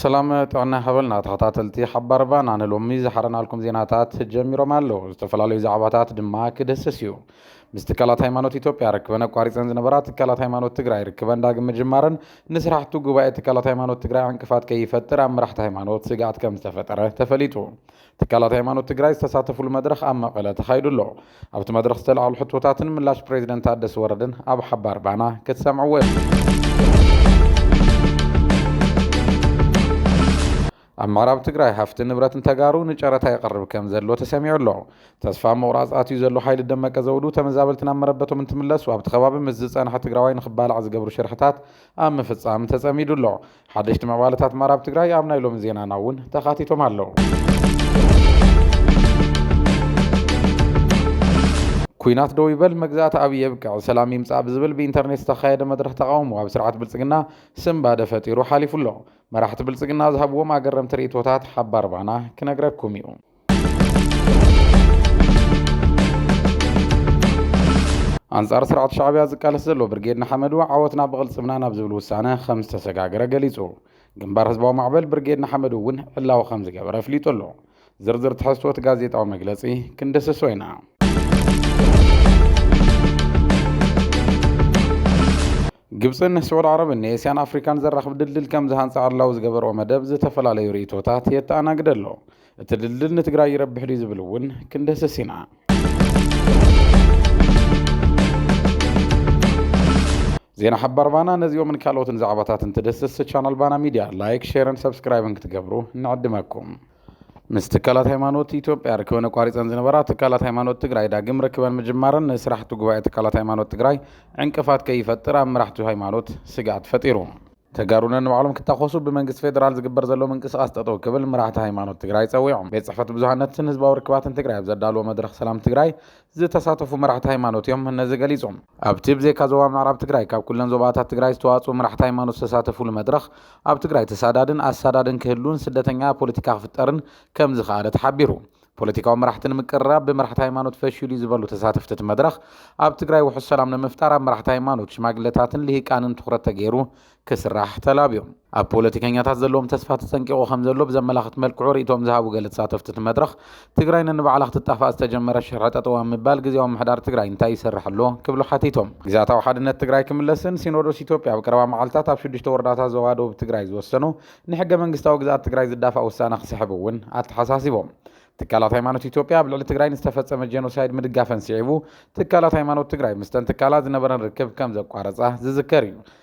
ሰላም ጥዕና ሃበልና ተኸታተልቲ ሓባር ባና ንሎሚ ዝሓረናልኩም ዜናታት ጀሚሮም ኣለዉ ዝተፈላለዩ ዛዕባታት ድማ ክድህስስ እዩ ምስ ትካላት ሃይማኖት ኢትዮጵያ ርክበን ኣቋሪፀን ዝነበራ ትካላት ሃይማኖት ትግራይ ርክበን ዳግም ምጅማረን ንስራሕቱ ጉባኤ ትካላት ሃይማኖት ትግራይ ዕንቅፋት ከይፈጥር ኣብ መራሕቲ ሃይማኖት ስግኣት ከምዝተፈጠረ ተፈሊጡ። ትካላት ሃይማኖት ትግራይ ዝተሳተፍሉ መድረኽ ኣብ መቐለ ተኻይዱ ኣሎ። ኣብቲ መድረኽ ዝተላዕሉ ሕቶታትን ምላሽ ፕሬዚደንት ታደሰ ወረደን ኣብ ሓባር ባና ክትሰምዕዎ ኢኹም። ኣብ ምዕራብ ትግራይ ሃፍቲ ንብረትን ተጋሩ ንጨረታ ይቐርብ ከም ዘሎ ተሰሚዑ ኣሎ። ተስፋ ኣብ ምቑራፅ ኣትዩ ዘሎ ሓይሊ ደመቀ ዘውዱ ተመዛበልቲ ናብ መረበቶም እንትምለሱ ኣብቲ ከባቢ ምስ ዝፀንሐ ትግራዋይ ንኽባላዕ ዝገብሩ ሽርሕታት ኣብ ምፍፃም ተፀሚዱ ኣሎ። ሓደሽቲ ምዕባለታት ምዕራብ ትግራይ ኣብ ናይ ሎሚ ዜናና እውን ተኻቲቶም ኣለው። ኩናት ደው ይበል መግዛእቲ ኣብ የብቅዕ ሰላም ይምፃእ ብዝብል ብኢንተርኔት ዝተኻየደ መድረኽ ተቃውሞ ኣብ ስርዓት ብልፅግና ስምባደ ፈጢሩ ሓሊፉ ኣሎ። መራሕቲ ብልጽግና ዝሃብዎም ኣገረምቲ ርእይቶታት ሓባር ባና ክነግረኩም እዩ። ኣንጻር ስርዓት ሻዕብያ ዝቃለስ ዘሎ ብርጌድ ንሓመዱ ዓወትና ብቕልጽምና ናብ ዝብል ውሳነ ከም ዝተሰጋገረ ገሊጹ። ግንባር ህዝባዊ ማዕበል ብርጌድ ንሓመዱ እውን ዕላዊ ከም ዝገበረ ኣፍሊጡ ኣሎ። ዝርዝር ትሕዝቶ እቲ ጋዜጣዊ መግለጺ ክንድስሶ ኢና። ግብፅን ስዑድ ዓረብን ንኤስያን ኣፍሪካን ዘራኽብ ድልድል ከምዝሃንፃ ዕላዊ ዝገበርኦ መደብ ዝተፈላለዩ ርኢቶታት የተኣናግደ ኣሎ። እቲ ድልድል ንትግራይ ይረብሕ ድዩ ዝብል እውን ክንድህስስ ኢና። ዜና ሓባር ባና ነዚኦምን ካልኦትን ዛዕባታት እንትድህስስ ቻናል ባና ሚድያ ላይክ፣ ሼርን ሰብስክራይብን ክትገብሩ ንዕድመኩም። ምስ ትካላት ሃይማኖት ኢትዮጵያ ርክበን ኣቋሪፀን ዝነበራ ትካላት ሃይማኖት ትግራይ ዳግም ርክበን ምጅማረን ንስራሕቲ ጉባኤ ትካላት ሃይማኖት ትግራይ ዕንቅፋት ከይፈጥር ኣብ መራሕቲ ሃይማኖት ስግኣት ፈጢሩ። ተጋሩ ነንባዕሎም ክታኾሱ ብመንግስቲ ፌዴራል ዝግበር ዘሎ ምንቅስቓስ ጠጠው ክብል መራሕቲ ሃይማኖት ትግራይ ፀዊዖም። ቤት ፅሕፈት ብዙሃነትን ህዝባዊ ርክባትን ትግራይ ኣብ ዘዳለዎ መድረኽ ሰላም ትግራይ ዝተሳተፉ መራሕቲ ሃይማኖት እዮም ነዚ ገሊፆም። ኣብቲ ብዘይካ ዞባ ምዕራብ ትግራይ ካብ ኩለን ዞባታት ትግራይ ዝተዋፅኡ መራሕቲ ሃይማኖት ዝተሳተፉሉ መድረኽ ኣብ ትግራይ ተሳዳድን ኣሳዳድን ክህሉን ስደተኛ ፖለቲካ ክፍጠርን ከምዝኸኣለ ተሓቢሩ። ፖለቲካዊ መራሕቲ ንምቅርራብ ብመራሕቲ ሃይማኖት ፈሺሉ እዩ ዝበሉ ተሳተፍቲ እቲ መድረኽ ኣብ ትግራይ ውሑስ ሰላም ንምፍጣር ኣብ መራሕቲ ሃይማኖት፣ ሽማግለታትን ልሂቃንን ትኹረት ተገይሩ ክስራሕ ተላብዩ። ኣብ ፖለቲከኛታት ዘለዎም ተስፋ ተጸንቂቑ ከምዘሎ ብዘመላኽት መልክዑ ርእይቶኦም ዝሃቡ ገለ ተሳተፍቲ እቲ መድረኽ፣ ትግራይ ነንባዕላ ክትጣፋእ ዝተጀመረ ሽርሒ ጠጠው ኣብ ምባል ግዝያዊ ምምሕዳር ትግራይ እንታይ ይሰርሕ ኣሎ? ክብሉ ሓቲቶም። ግዝኣታዊ ሓድነት ትግራይ ክምለስን ሲኖዶስ ኢትዮጵያ ኣብ ቀረባ መዓልታት ኣብ ሽዱሽተ ወረዳታት ዞባ ደቡብ ትግራይ ዝወሰኖ ንሕገ መንግስታዊ ግዝኣት ትግራይ ዝዳፋእ ውሳነ ክስሕብ እውን ኣተሓሳሲቦም። ትካላት ሃይማኖት ኢትዮጵያ ኣብ ልዕሊ ትግራይ ንዝተፈጸመ ጄኖሳይድ ምድጋፈን ስዒቡ ትካላት ሃይማኖት ትግራይ ምስተን ትካላት ዝነበረን ርክብ ከምዘቋረጻ ዝዝከር እዩ።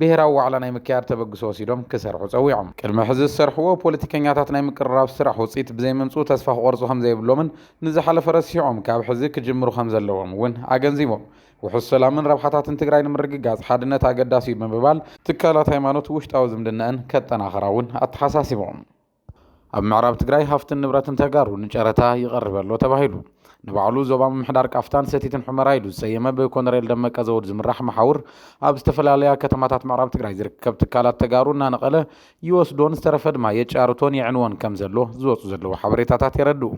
ብሄራዊ ዋዕላ ናይ ምክያድ ተበግሶ ወሲዶም ክሰርሑ ፀዊዖም። ቅድሚ ሕዚ ዝሰርሕዎ ፖለቲከኛታት ናይ ምቅርራብ ስራሕ ውፅኢት ብዘይምምፅኡ ተስፋ ክቖርፁ ከምዘይብሎምን ንዝሓለፈ ረሲዖም ካብ ሕዚ ክጅምሩ ከምዘለዎም እውን ኣገንዚቦም። ውሑስ ሰላምን ረብሓታትን ትግራይ ንምርግጋፅ ሓድነት ኣገዳሲ እዩ ብምባል ትካላት ሃይማኖት ውሽጣዊ ዝምድነኣን ከጠናኽራ እውን ኣተሓሳሲቦም። ኣብ ምዕራብ ትግራይ ሃፍትን ንብረትን ተጋሩ ንጨረታ ይቐርብ ኣሎ ተባሂሉ። ንባዕሉ ዞባ ምምሕዳር ቃፍታን ሰቲትን ሑመራ ኢሉ ዝሰየመ ብኮነሬል ደመቀ ዘውድ ዝምራሕ መሓውር ኣብ ዝተፈላለያ ከተማታት ምዕራብ ትግራይ ዝርከብ ትካላት ተጋሩ እናነቐለ ይወስዶን ዝተረፈ ድማ የጫርቶን የዕንዎን ከም ዘሎ ዝወፁ ዘለዉ ሓበሬታታት የረድኡ።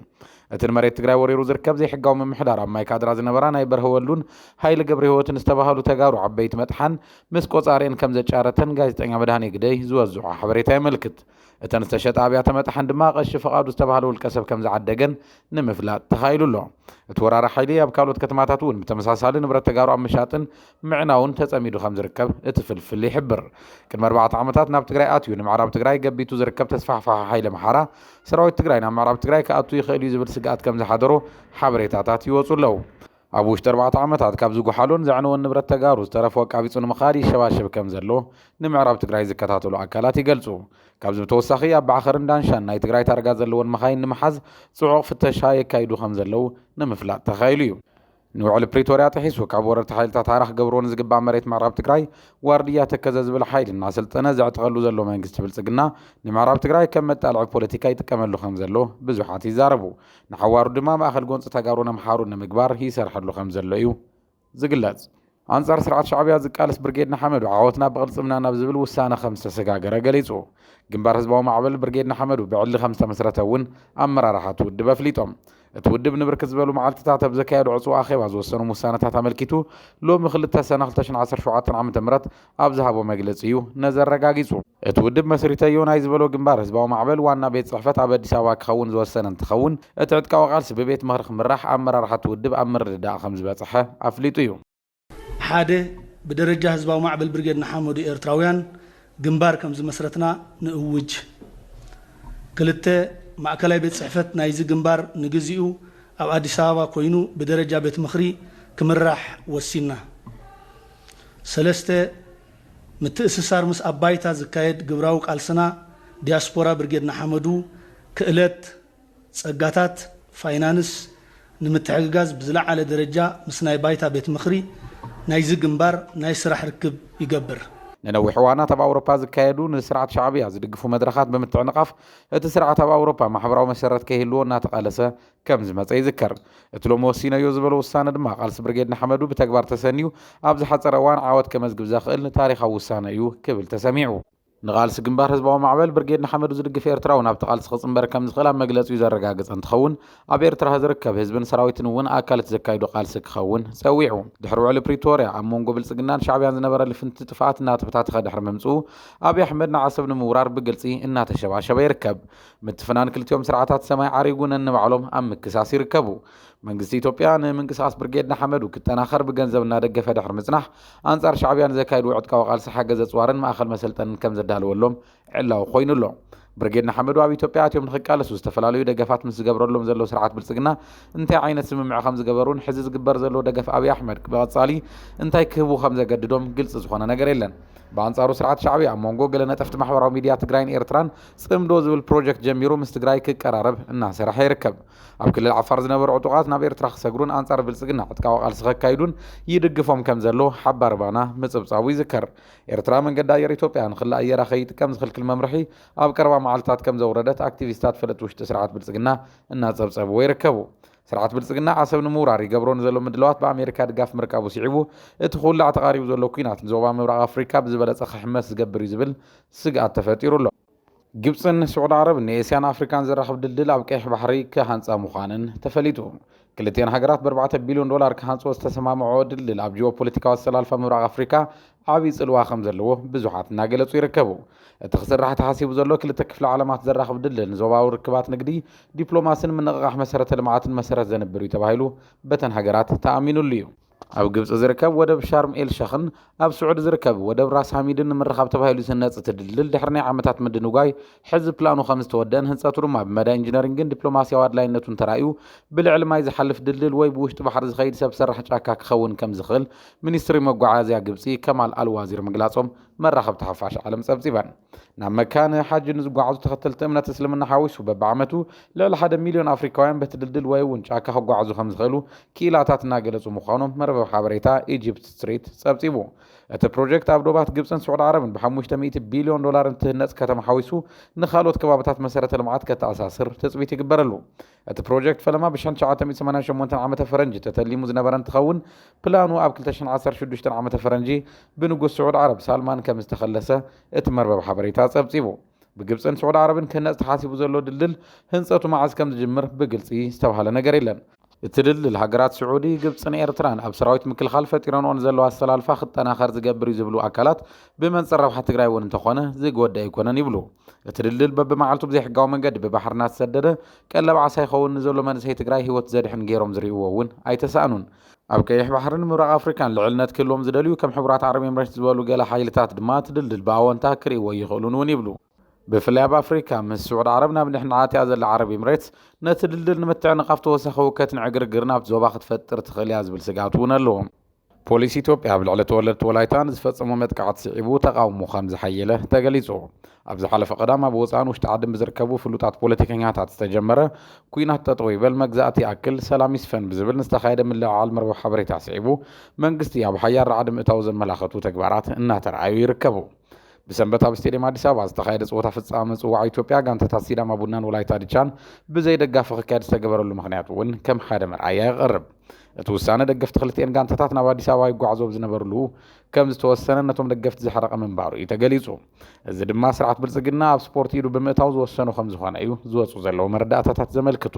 እቲ ንመሬት ትግራይ ወሪሩ ዝርከብ ዘይሕጋዊ ምምሕዳር ኣብ ማይካድራ ዝነበራ ናይ በርሀ ወልዱን ሃይለ ገብረህይወትን ዝተባሃሉ ተጋሩ ዓበይቲ መጥሓን ምስ ቆፃሪኤን ከም ዘጫረተን ጋዜጠኛ መድሃኔ ግደይ ዝወዝዖ ሓበሬታ የመልክት። እተን ዝተሸጣ ኣብያተ መጥሓን ድማ ቀሺ ፍቓዱ ዝተባህለ ውልቀ ሰብ ከም ዝዓደገን ንምፍላጥ ተኻኢሉ ኣሎ። እቲ ወራሪ ሓይሊ ኣብ ካልኦት ከተማታት እውን ብተመሳሳሊ ንብረት ተጋሩ ኣብ ምሻጥን ምዕናውን ተጸሚዱ ከም ዝርከብ እቲ ፍልፍል ይሕብር። ቅድሚ ኣርባዕተ ዓመታት ናብ ትግራይ ኣትዩ ንምዕራብ ትግራይ ገቢቱ ዝርከብ ተስፋሕፋሒ ሓይሊ ኣምሓራ፣ ሰራዊት ትግራይ ናብ ምዕራብ ትግራይ ክኣቱ ይኽእል እዩ ዝብል ስግኣት ከም ዝሓደሮ ሓበሬታታት ይወጹ ኣለዉ። ኣብ ውሽጢ ኣርባዕተ ዓመታት ካብ ዝጉሓሎን ዘዕነዎን ንብረት ተጋሩ ዝተረፎ ኣቃቢፁ ንምኻድ ይሸባሸብ ከም ዘሎ ንምዕራብ ትግራይ ዝከታተሉ ኣካላት ይገልፁ። ካብዚ ብተወሳኺ ኣብ ባዕኸርን ዳንሻን ናይ ትግራይ ታርጋ ዘለወን መኻይን ንምሓዝ ፅዑቕ ፍተሻ የካይዱ ከም ዘለው ንምፍላጥ ተኻኢሉ እዩ። ንውዕሊ ፕሪቶርያ ጥሒሱ ካብ ወረርቲ ሓይልታት ሃራ ክገብርዎ ንዝግባእ መሬት ምዕራብ ትግራይ ዋርድያ ተከዘ ዝብል ሓይሊ እናሰልጠነ ዘዕጥቐሉ ዘሎ መንግስቲ ብልፅግና ንምዕራብ ትግራይ ከም መጣልዒ ፖለቲካ ይጥቀመሉ ከም ዘሎ ብዙሓት ይዛረቡ። ንሓዋሩ ድማ ማእኸል ጎንፂ ተጋሩን ኣምሓሩን ንምግባር ይሰርሐሉ ከም ዘሎ እዩ ዝግለፅ። ኣንፃር ስርዓት ሻዕቢያ ዝቃለስ ብርጌድ ንሓመዱ ዓወትና ብቕልፅምና ናብ ዝብል ውሳነ ከም ዝተሰጋገረ ገሊፁ። ግንባር ህዝባዊ ማዕበል ብርጌድ ንሓመዱ ብዕሊ ከም ዝተመስረተ እውን ኣመራርሓ እቲ ውድብ ኣፍሊጦም። እቲ ውድብ ንብርክት ዝበሉ መዓልቲታት ኣብ ዘካየዶ ዕፅው ኣኼባ ዝወሰኖም ውሳነታት ኣመልኪቱ ሎሚ ክልተ ሰነ ክልተ ሽሕን ዓሰርተ ሸውዓተን ዓመተ ምህረት ኣብ ዝሃቦ መግለፂ እዩ ነዚ ኣረጋጊፁ። እቲ ውድብ መስሪተዮ ናይ ዝበሎ ግንባር ህዝባዊ ማዕበል ዋና ቤት ፅሕፈት ኣብ ኣዲስ ኣበባ ክኸውን ዝወሰነ እንትኸውን፣ እቲ ዕጥቃዊ ቃልሲ ብቤት ምኽሪ ክምራሕ ኣመራርሓ እቲ ውድብ ኣብ ምርድዳእ ከምዝበፀሐ ኣፍሊጡ እዩ። ሓደ፣ ብደረጃ ህዝባዊ ማዕበል ብርጌድ ንሓመዱ ኤርትራውያን ግንባር ከምዝመስረትና ንእውጅ። ክልተ፣ ማእከላይ ቤት ፅሕፈት ናይዚ ግንባር ንግዚኡ ኣብ ኣዲስ ኣበባ ኮይኑ ብደረጃ ቤት ምኽሪ ክምራሕ ወሲንና። ሰለስተ፣ ምትእስሳር ምስ ኣብ ባይታ ዝካየድ ግብራዊ ቃልስና፣ ዲያስፖራ ብርጌድ ንሓመዱ፣ ክእለት፣ ጸጋታት፣ ፋይናንስ፣ ንምትሕግጋዝ ብዝለዓለ ደረጃ ምስ ናይ ባይታ ቤት ምኽሪ ናይዚ ግንባር ናይ ስራሕ ርክብ ይገብር። ንነዊሕ እዋናት ኣብ ኣውሮፓ ዝካየዱ ንስርዓት ሻዕብያ ዝድግፉ መድረኻት ብምትዕንቓፍ፣ እቲ ስርዓት ኣብ ኣውሮፓ ማሕበራዊ መሰረት ከይህልዎ እናተቓለሰ ከም ዝመፀ ይዝከር። እቲ ሎሚ ወሲነዮ ዝበሎ ውሳነ ድማ ቃልሲ ብርጌድ ንሓመዱ ብተግባር ተሰንዩ ኣብ ዝሓፀረ እዋን ዓወት ከመዝግብ ዘኽእል ታሪኻዊ ውሳነ እዩ ክብል ተሰሚዑ። ንቓልሲ ግንባር ህዝባዊ ማዕበል ብርጌድ ንሓመዱ ዝድግፍ ኤርትራዊ ናብቲ ቓልሲ ክፅምበር ከም ዝኽእል ኣብ መግለፂኡ ዘረጋገፀ እንትኸውን ኣብ ኤርትራ ዝርከብ ህዝብን ሰራዊትን እውን ኣካል እቲ ዘካይዶ ቓልሲ ክኸውን ፀዊዑ። ድሕሪ ውዕሊ ፕሪቶርያ ኣብ ሞንጎ ብልፅግናን ሻዕብያን ዝነበረ ልፍንቲ ጥፍኣት እናተበታተኸ ድሕሪ ምምፅኡ ኣብይ ኣሕመድ ንዓሰብ ንምውራር ብግልፂ እናተሸባሸበ ይርከብ። ምትፍናን ክልቲኦም ስርዓታት ሰማይ ዓሪጉ ነንባዕሎም ኣብ ምክሳስ ይርከቡ። መንግስቲ ኢትዮጵያ ንምንቅስቓስ ብርጌድ ንሓመዱ ክጠናኸር ብገንዘብ እናደገፈ ድሕሪ ምፅናሕ ኣንፃር ሻዕብያ ንዘካይድዎ ዕጥቃዊ ቃልሲ ሓገዝ ኣፅዋርን ማእኸል መሰልጠንን ከምዘዳለወሎም ዕላዊ ኮይኑ ኣሎ። ብርጌድ ንሓመዱ ኣብ ኢትዮጵያ ኣትዮም ንክቃለሱ ዝተፈላለዩ ደገፋት ምስ ዝገብረሎም ዘሎ ስርዓት ብልፅግና እንታይ ዓይነት ስምምዕ ከምዝገበሩን ሕዚ ዝግበር ዘሎ ደገፍ ኣብይ ኣሕመድ ብቐፃሊ እንታይ ክህቡ ከምዘገድዶም ግልፂ ዝኾነ ነገር የለን። ብኣንፃሩ ስርዓት ሻዕብያ ኣብ ሞንጎ ገለ ነጠፍቲ ማሕበራዊ ሚድያ ትግራይን ኤርትራን ፅምዶ ዝብል ፕሮጀክት ጀሚሩ ምስ ትግራይ ክቀራረብ እናሰረሐ ይርከብ። ኣብ ክልል ዓፋር ዝነበሩ ዕጡቓት ናብ ኤርትራ ክሰግሩን ኣንፃር ብልፅግና ዕጥቃዊ ቃልሲ ከካይዱን ይድግፎም ከምዘሎ ሓባር ባና ምፅብፃቡ ይዝከር። ኤርትራ መንገዲ ኣየር ኢትዮጵያ ንክሊ ኣየራ ከይጥቀም ዝኽልክል መምርሒ ኣብ ቀረባ መዓልትታት ከምዘውረደት ኣክቲቪስታት ፈለጥቲ ውሽጢ ስርዓት ብልፅግና እናፀብፀብዎ ይርከቡ። ስርዓት ብልፅግና ዓሰብ ንምውራር ይገብሮ ንዘሎ ምድላዋት ብኣሜሪካ ድጋፍ ምርካቡ ስዒቡ እቲ ክውላዕ ተቓሪቡ ዘሎ ኲናት ንዞባ ምብራቕ ኣፍሪካ ብዝበለፀ ክሕመስ ዝገብር እዩ ዝብል ስግኣት ተፈጢሩ ኣሎ። ግብፅን ስዑድ ዓረብን ንኤስያን ኣፍሪካን ዘራኽብ ድልድል ኣብ ቀይሕ ባሕሪ ክሃንፃ ምዃነን ተፈሊጡ። ክልቲኤን ሃገራት ብኣርባዕተ ቢልዮን ዶላር ክሃንፅኦ ዝተሰማምዐኦ ድልድል ኣብ ጂኦፖለቲካዊ ኣሰላልፋ ምብራቕ ኣፍሪካ ዓብይ ፅልዋ ከምዘለዎ ብዙሓት እናገለፁ ይርከቡ። እቲ ክስራሕ ተሓሲቡ ዘሎ ክልተ ክፍለ ዓለማት ዘራኽብ ድልድል ንዞባዊ ርክባት ንግዲ፣ ዲፕሎማሲን ምንቕቓሕ መሰረተ ልምዓትን መሰረት ዘንብር እዩ ተባሂሉ በተን ሃገራት ተኣሚኑሉ እዩ። ኣብ ግብፂ ዝርከብ ወደብ ሻርም ኤል ሸኽን ኣብ ስዑዲ ዝርከብ ወደብ ራስ ሃሚድን ንምርኻብ ተባሂሉ ዝህነፅ እቲ ድልድል ድሕሪ ናይ ዓመታት ምድንጓይ ሕዚ ፕላኑ ከምዝተወደእን ህንፀቱ ድማ ብመዳይ ኢንጂነሪንግን ዲፕሎማሲያዊ ኣድላይነቱን ተራእዩ ብልዕሊ ማይ ዝሓልፍ ድልድል ወይ ብውሽጢ ባሕሪ ዝኸይድ ሰብ ሰራሕ ጫካ ክኸውን ከምዝኽእል ሚኒስትሪ መጓዓዝያ ግብፂ ከማል ኣል ዋዚር ምግላፆም መራኸብቲ ሓፋሽ ዓለም ፀብፂበን። ናብ መካ ንሓጂ ንዝጓዓዙ ተኸተልቲ እምነት እስልምና ሓዊሱ በቢዓመቱ ልዕሊ ሓደ ሚልዮን ኣፍሪካውያን በቲ ድልድል ወይ እውን ጫካ ክጓዓዙ ከምዝኽእሉ ክኢላታት እናገለፁ ምዃኖም መርበብ ሓበሬታ ኢጂፕት ስትሪት ፀብፂቡ። እቲ ፕሮጀክት ኣብ ዶባት ግብፅን ስዑድ ዓረብን ብሓሙሽተ ሚእቲ ቢልዮን ዶላር እንትህነፅ ከተማ ሓዊሱ ንኻልኦት ከባብታት መሰረተ ልምዓት ከተኣሳስር ትፅቢት ይግበረሉ። እቲ ፕሮጀክት ፈለማ ብሸን ትሽዓተ ሚእቲ ሰማንያን ሸሞንተን ዓመተ ፈረንጂ ተተሊሙ ዝነበረ እንትኸውን ፕላኑ ኣብ ክልተ ሽሕን ዓሰርተ ሽዱሽተን ዓመተ ፈረንጂ ብንጉስ ስዑድ ዓረብ ሳልማን ከምዝተኸለሰ እቲ መርበብ ሓበሬታ ኣፀብፂቡ። ብግብፅን ስዑድ ዓረብን ክህነፅ ተሓሲቡ ዘሎ ድልድል ህንፀቱ መዓዝ ከምዝጅምር ብግልፂ ዝተብሃለ ነገር የለን። እቲ ድልድል ሃገራት ስዑዲ፣ ግብፅን ኤርትራን ኣብ ሰራዊት ምክልኻል ፈጢረንኦ ንዘለዋ ኣሰላልፋ ክጠናኸር ዝገብር እዩ ዝብሉ ኣካላት ብመንፅር ረብሓ ትግራይ እውን እንተኾነ ዝጎድእ ኣይኮነን ይብሉ። እቲ ድልድል በብመዓልቱ ብዘይሕጋዊ መንገዲ ብባሕሪ እናተሰደደ ቀለብ ዓሳ ይኸውን ንዘሎ መንእሰይ ትግራይ ህይወት ዘድሕን ገይሮም ዝርእይዎ እውን ኣይተሳእኑን። ኣብ ቀይሕ ባሕርን ምብራቕ ኣፍሪካን ልዕልነት ክህልዎም ዝደልዩ ከም ሕቡራት ዓረብ ኤምሬት ዝበሉ ገለ ሓይልታት ድማ እቲ ድልድል ብኣወንታ ክርእይዎ ኣይኽእሉን እውን ይብሉ። ብፍላይ ኣብ ኣፍሪካ ምስ ስዑድ ዓረብ ናብ ንሕንሕ ኣትያ ዘላ ዓረብ ኤምሬትስ ነቲ ድልድል ንምትዕንቓፍ ተወሳኺ ህውከትን ዕግርግርን ኣብቲ ዞባ ክትፈጥር ትኽእል እያ ዝብል ስግኣት እውን ኣለዎም። ፖሊስ ኢትዮጵያ ኣብ ልዕሊ ተወለድቲ ወላይታ ንዝፈጸሞ መጥቃዕቲ ስዒቡ ተቓውሞ ከም ዝሓየለ ተገሊጹ። ኣብ ዝሓለፈ ቀዳም ኣብ ወጻእን ውሽጢ ዓድን ብዝርከቡ ፍሉጣት ፖለቲከኛታት ዝተጀመረ ኩናት ጠጠው ይበል መግዛእቲ ይኣክል ሰላም ይስፈን ብዝብል ንዝተኻየደ ምልዕዓል መርበብ ሓበሬታ ስዒቡ መንግስቲ ኣብ ሓያል ራዕዲ ምእታው ዘመላኸቱ ተግባራት እናተርኣዩ ይርከቡ። ብሰንበት ኣብ ስቴድየም ኣዲስ ኣበባ ዝተኻየደ ፀወታ ፍፃመ ምፅዋዕ ኢትዮጵያ ጋንታታት ሲዳማ ቡናን ወላይታ ድቻን ብዘይ ደጋፊ ክካየድ ዝተገበረሉ ምክንያት እውን ከም ሓደ መርኣያ የቐርብ። እቲ ውሳነ ደገፍቲ ክልቲኤን ጋንታታት ናብ ኣዲስ ኣበባ ይጓዓዙ ኣብ ዝነበርሉ ከም ዝተወሰነ ነቶም ደገፍቲ ዘሕረቐ ምንባሩ እዩ ተገሊጹ። እዚ ድማ ስርዓት ብልጽግና ኣብ ስፖርት ኢዱ ብምእታው ዝወሰኑ ከም ዝኾነ እዩ ዝወፁ ዘለዉ መረዳእታታት ዘመልክቱ።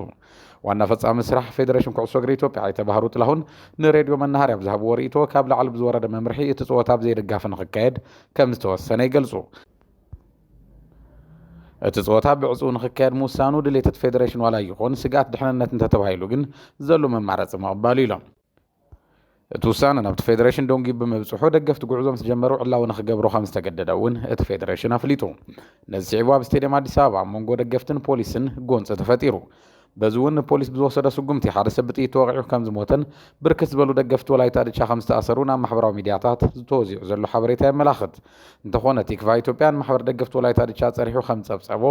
ዋና ፈፃሚ ስራሕ ፌዴሬሽን ኩዕሶ እግሪ ኢትዮጵያ ኣይተ ባህሩ ጥላሁን ንሬድዮ መናሃርያ ኣብ ዝሃብዎ ርእይቶ ካብ ላዕሊ ብዝወረደ መምርሒ እቲ ፀወታ ኣብ ዘይደጋፊ ንክካየድ ከም ዝተወሰነ ይገልፁ። እቲ ጸወታ ብዕጹው ንክካየድ ምውሳኑ ድሌት እቲ ፌደሬሽን ዋላ ይኹን ስግኣት ድሕንነት እንተተባሂሉ ግን ዘሎ መማረፂ ምቕባሉ ኢሎም። እቲ ውሳነ ናብቲ ፌደሬሽን ዶንጊ ብምብፅሑ ደገፍቲ ጉዕዞ ምስ ጀመሩ ዕላዊ ንክገብሩ ከም ዝተገደደ እውን እቲ ፌደሬሽን ኣፍሊጡ። ነዚ ስዒቡ ኣብ ስቴድየም ኣዲስ ኣበባ ኣብ መንጎ ደገፍትን ፖሊስን ጎንፂ ተፈጢሩ። በዚ እውን ንፖሊስ ብዝወሰዶ ስጉምቲ ሓደ ሰብ ብጥይት ተወቒዑ ከም ዝሞተን ብርክት ዝበሉ ደገፍቲ ወላይታ ድቻ ከም ዝተኣሰሩን ኣብ ማሕበራዊ ሚድያታት ተወዚዑ ዘሎ ሓበሬታ የመላኽት። እንተኾነ ቲክቫህ ኢትዮጵያ ንማሕበር ደገፍቲ ወላይታ ድቻ ፀሪሑ ከም ዝፀብፀቦ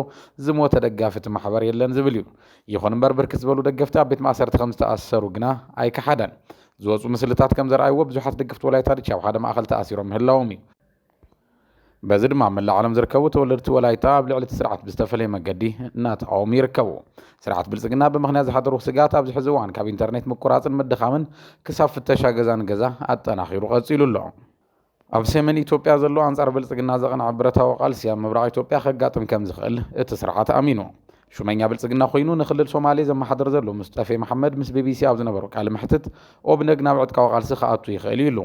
ዝሞተ ደጋፊ እቲ ማሕበር የለን ዝብል እዩ። ይኹን እምበር ብርክት ዝበሉ ደገፍቲ ኣብ ቤት ማእሰርቲ ከም ዝተኣሰሩ ግና ኣይከሓደን። ዝወጹ ምስልታት ከም ዘርኣይዎ ብዙሓት ደገፍቲ ወላይታ ድቻ ኣብ ሓደ ማእኸል ተኣሲሮም ምህላዎም እዩ። በዚ ድማ ኣብ መላእ ዓለም ዝርከቡ ተወለድቲ ወላይታ ኣብ ልዕሊ እቲ ስርዓት ብዝተፈለየ መገዲ እናተቓወሙ ይርከቡ። ስርዓት ብልጽግና ብምኽንያት ዝሓደሩ ስግኣት ኣብዚ ሕዚ እዋን ካብ ኢንተርኔት ምቁራጽን ምድኻምን ክሳብ ፍተሻ ገዛ ንገዛ ኣጠናኺሩ ቀጺሉ ኣሎ። ኣብ ሰሜን ኢትዮጵያ ዘሎ ኣንጻር ብልጽግና ዘቕንዐ ብረታዊ ቃልሲ ኣብ ምብራቕ ኢትዮጵያ ከጋጥም ከም ዝኽእል እቲ ስርዓት ኣሚኑ። ሹመኛ ብልጽግና ኮይኑ ንክልል ሶማሌ ዘመሓድር ዘሎ ሙስጠፌ መሓመድ ምስ ቢቢሲ ኣብ ዝነበሮ ቃለ መሕትት ኦብነግ ናብ ዕጥቃዊ ቃልሲ ክኣቱ ይኽእል እዩ ኢሉ።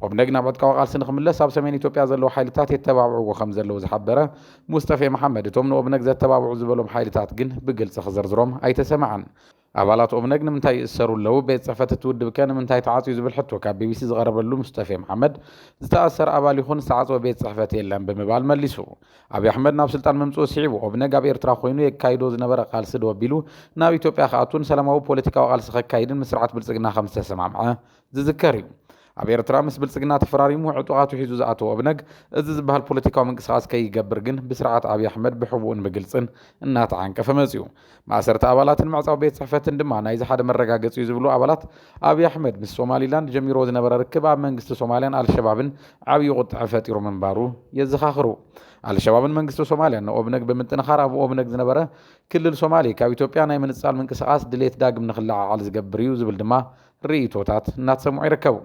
ኦብነግ ናብ ዕጥቃዊ ቃልሲ ንክምለስ ኣብ ሰሜን ኢትዮጵያ ዘለዉ ሓይልታት የተባብዕዎ ከም ዘለዉ ዝሓበረ ሙስጠፌ መሓመድ እቶም ንኦብነግ ዘተባብዑ ዝበሎም ሓይልታት ግን ብግልጺ ክዝርዝሮም ኣይተሰምዐን። ኣባላት ኦብነግ ንምንታይ ይእሰሩ ኣለዉ? ቤት ጽሕፈት እቲ ውድብከ ንምንታይ ተዓጽዩ ዝብል ሕቶ ካብ ቢቢሲ ዝቐረበሉ ሙስጠፌ መሓመድ፣ ዝተኣሰረ ኣባል ይኹን ዝተዓጽወ ቤት ጽሕፈት የለን ብምባል መሊሱ። ኣብዪ ኣሕመድ ናብ ስልጣን ምምጽኡ ስዒቡ፣ ኦብነግ ኣብ ኤርትራ ኮይኑ የካይዶ ዝነበረ ቃልሲ ደው ኣቢሉ ናብ ኢትዮጵያ ክኣቱን ሰላማዊ ፖለቲካዊ ቃልሲ ከካይድን ምስ ስርዓት ብልጽግና ከምዝተሰማምዐ ዝዝከር እዩ። ኣብ ኤርትራ ምስ ብልጽግና ተፈራሪሙ ዕጡቓቱ ሒዙ ዝኣተዎ እብነግ፣ እዚ ዝበሃል ፖለቲካዊ ምንቅስቓስ ከይገብር ግን ብስርዓት ኣብይ ኣሕመድ ብሕቡእን ብግልጽን እናተዓንቀፈ መጺኡ። ማእሰርቲ ኣባላትን ምዕጻው ቤት ጽሕፈትን ድማ ናይዚ ሓደ መረጋገጺ እዩ ዝብሉ ኣባላት፣ ኣብይ ኣሕመድ ምስ ሶማሊላንድ ጀሚርዎ ዝነበረ ርክብ ኣብ መንግስቲ ሶማልያን ኣልሸባብን ዓብዪ ቁጥዐ ፈጢሩ ምንባሩ የዘኻኽሩ። ኣልሸባብን መንግስቲ ሶማልያን ንኦብነግ ብምጥንኻር ኣብ ኦብነግ ዝነበረ ክልል ሶማሌ ካብ ኢትዮጵያ ናይ ምንጻል ምንቅስቓስ ድሌት ዳግም ንክለዓዓል ዝገብር እዩ ዝብል ድማ ርእይቶታት እናተሰምዑ ይርከቡ።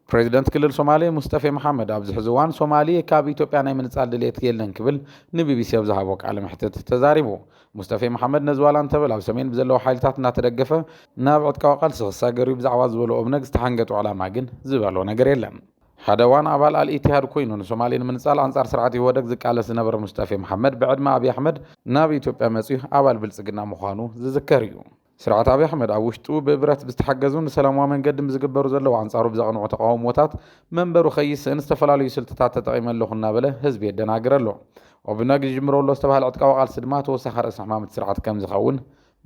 ፕረዚደንት ክልል ሶማሌ ሙስጠፌ መሓመድ ኣብዚ ሕዚ እዋን ሶማሌ ካብ ኢትዮጵያ ናይ ምንፃል ድልየት የለን ክብል ንቢቢሲ ኣብ ዝሃቦ ቃለ መሕትት ተዛሪቡ። ሙስጠፌ መሓመድ ነዚ ዋላ እንተበለ ኣብ ሰሜን ብዘለዉ ሓይልታት እናተደገፈ ናብ ዕጥቃዊ ቃልሲ ክሳገር እዩ ብዛዕባ ዝበሎ ኦብነግ ዝተሓንገጦ ዕላማ ግን ዝበሎ ነገር የለን። ሓደ እዋን ኣባል ኣል ኢቲሃድ ኮይኑ ንሶማሌ ንምንፃል ኣንፃር ስርዓት ኢህወደግ ዝቃለስ ዝነበረ ሙስጠፌ መሓመድ ብዕድመ ኣብይ ኣሕመድ ናብ ኢትዮጵያ መፅዩ ኣባል ብልፅግና ምዃኑ ዝዝከር እዩ። ስርዓት ኣብይ ኣሕመድ ኣብ ውሽጡ ብብረት ብዝተሓገዙን ብሰላማዊ መንገድን ብዝግበሩ ዘለዉ ኣንጻሩ ብዘቕንዑ ተቓውሞታት መንበሩ ከይስእን ዝተፈላለዩ ስልትታት ተጠቒመ ኣለኹ እናበለ ህዝቢ የደናግር ኣሎ። ኦብነግ ይጅምሮ ኣሎ ዝተባህለ ዕጥቃዊ ቃልሲ ድማ ተወሳኺ ርእሲ ሕማም እቲ ስርዓት ከምዝኸውን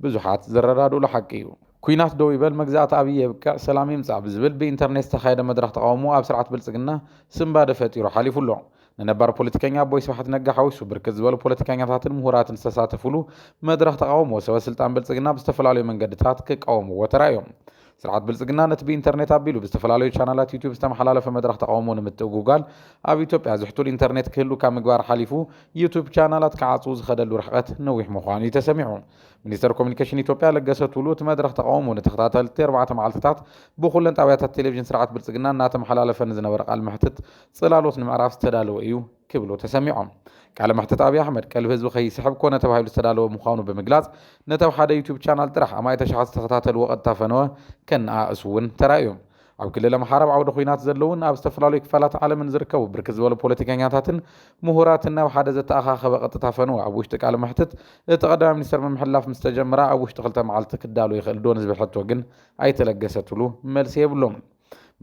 ብዙሓት ዝረዳድኡሉ ሓቂ እዩ። ኲናት ደው ይበል፣ መግዛእቲ ኣብይ የብቅዕ፣ ሰላም ይምጻእ ብዝብል ብኢንተርኔት ዝተኻየደ መድረኽ ተቓውሞ ኣብ ስርዓት ብልጽግና ስንባደ ፈጢሩ ሓሊፉ ኣሎ። ንነባር ፖለቲከኛ ኣቦይ ስብሓት ነጋ ሓዊሱ ብርክት ዝበሉ ፖለቲከኛታትን ምሁራትን ዝተሳተፍሉ መድረኽ ተቓውሞ ሰበ ስልጣን ብልፅግና ብዝተፈላለዩ መንገድታት ክቃወምዎ ተራእዮም። ስርዓት ብልፅግና ነቲ ብኢንተርኔት ኣቢሉ ብዝተፈላለዩ ቻናላት ዩትዩብ ዝተመሓላለፈ መድረኽ ተቓውሞ ንምትእጉጋል ኣብ ኢትዮጵያ ዝሕቱል ኢንተርኔት ክህሉ ካብ ምግባር ሓሊፉ ዩትዩብ ቻናላት ክዓፅዉ ዝኸደሉ ርሕቐት ነዊሕ ምዃኑ እዩ ተሰሚዑ። ሚኒስተር ኮሚኒኬሽን ኢትዮጵያ ለገሰ ቱሉ እቲ መድረኽ ተቓውሞ ንተኸታተልቲ ኣርባዕተ መዓልትታት ብኹለን ጣብያታት ቴሌቪዥን ስርዓት ብልፅግና እናተመሓላለፈ ንዝነበረ ቃል መሕትት ጽላሎት ንምዕራፍ ዝተዳለወ እዩ ክብሉ ተሰሚዖም። ቃለ መሕትት ኣብይ ኣሕመድ ቀልቢ ህዝቢ ከይስሕብ ኮነ ተባሂሉ ዝተዳለወ ምዃኑ ብምግላጽ ነቲ ኣብ ሓደ ዩቱብ ቻናል ጥራሕ ኣማኢት ኣሽሓት ዝተኸታተልዎ ቀጥታ ፈነወ ከነኣእሱ እውን ተራእዮም። ኣብ ክልል ኣምሓራ ኣብ ዓውደ ኹናት ዘለውን ኣብ ዝተፈላለዩ ክፋላት ዓለምን ዝርከቡ ብርክት ዝበሉ ፖለቲከኛታትን ምሁራትን ናብ ሓደ ዘተኣኻኸበ ቀጥታ ፈነወ ኣብ ውሽጢ ቃለ መሕትት እቲ ቀዳማይ ሚኒስተር ምምሕላፍ ምስ ተጀመራ ኣብ ውሽጢ ክልተ መዓልቲ ክዳሎ ይኽእል ዶ ንዝብል ሕቶ ግን ኣይተለገሰትሉ መልሲ የብሎምን።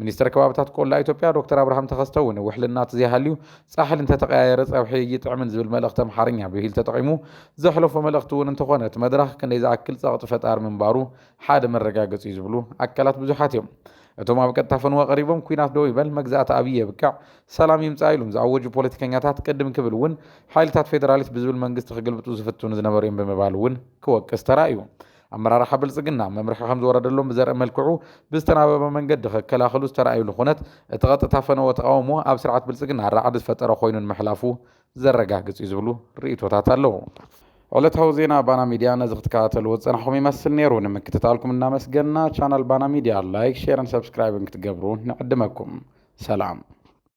ሚኒስተር ከባብታት ቆላ ኢትዮጵያ ዶክተር ኣብርሃም ተኸስተ እውን ውሕሊ እናተዘይሃልዩ ፃሕሊ እንተተቐያየረ ፀብሒ እይጥዕምን ዝብል መልእኽቲ ኣምሓርኛ ብሂል ተጠቒሙ ዘሕለፎ መልእኽቲ እውን እንተኾነ እቲ መድረኽ ክንደይ ዝኣክል ፀቕጢ ፈጣሪ ምንባሩ ሓደ መረጋገፂ እዩ ዝብሉ ኣካላት ብዙሓት እዮም። እቶም ኣብ ቀጥታ ፈንወ ቀሪቦም ኩናት ደው ይበል መግዛእቲ ኣብዪ የብቅዕ ሰላም ይምፃእ ኢሉም ዝኣወጁ ፖለቲከኛታት ቅድም ክብል እውን ሓይልታት ፌደራሊስት ብዝብል መንግስቲ ክግልብጡ ዝፍትኑ ዝነበሩ እዮም ብምባል እውን ክወቅስ ተራእዩ። ኣመራርሓ ብልፅግና መምርሒ ከምዝወረደሎም ብዘርኢ መልክዑ ብዝተናበበ መንገዲ ክከላኸሉ ዝተርኣዩሉ ኩነት እቲ ቀጥታ ፈነወ ተቓውሞ ኣብ ስርዓት ብልፅግና ራዕዲ ዝፈጠረ ኮይኑ ንምሕላፉ ዘረጋግፅ እዩ ዝብሉ ርኢቶታት ኣለው። ዕለታዊ ዜና ባና ሚድያ ነዚ ክትከታተልዎ ዝፀናሕኹም ይመስል ነይሩ። ንምክትታልኩም እናመስገንና ቻናል ባና ሚድያ ላይክ፣ ሼርን ሰብስክራይብን ክትገብሩ ንዕድመኩም። ሰላም።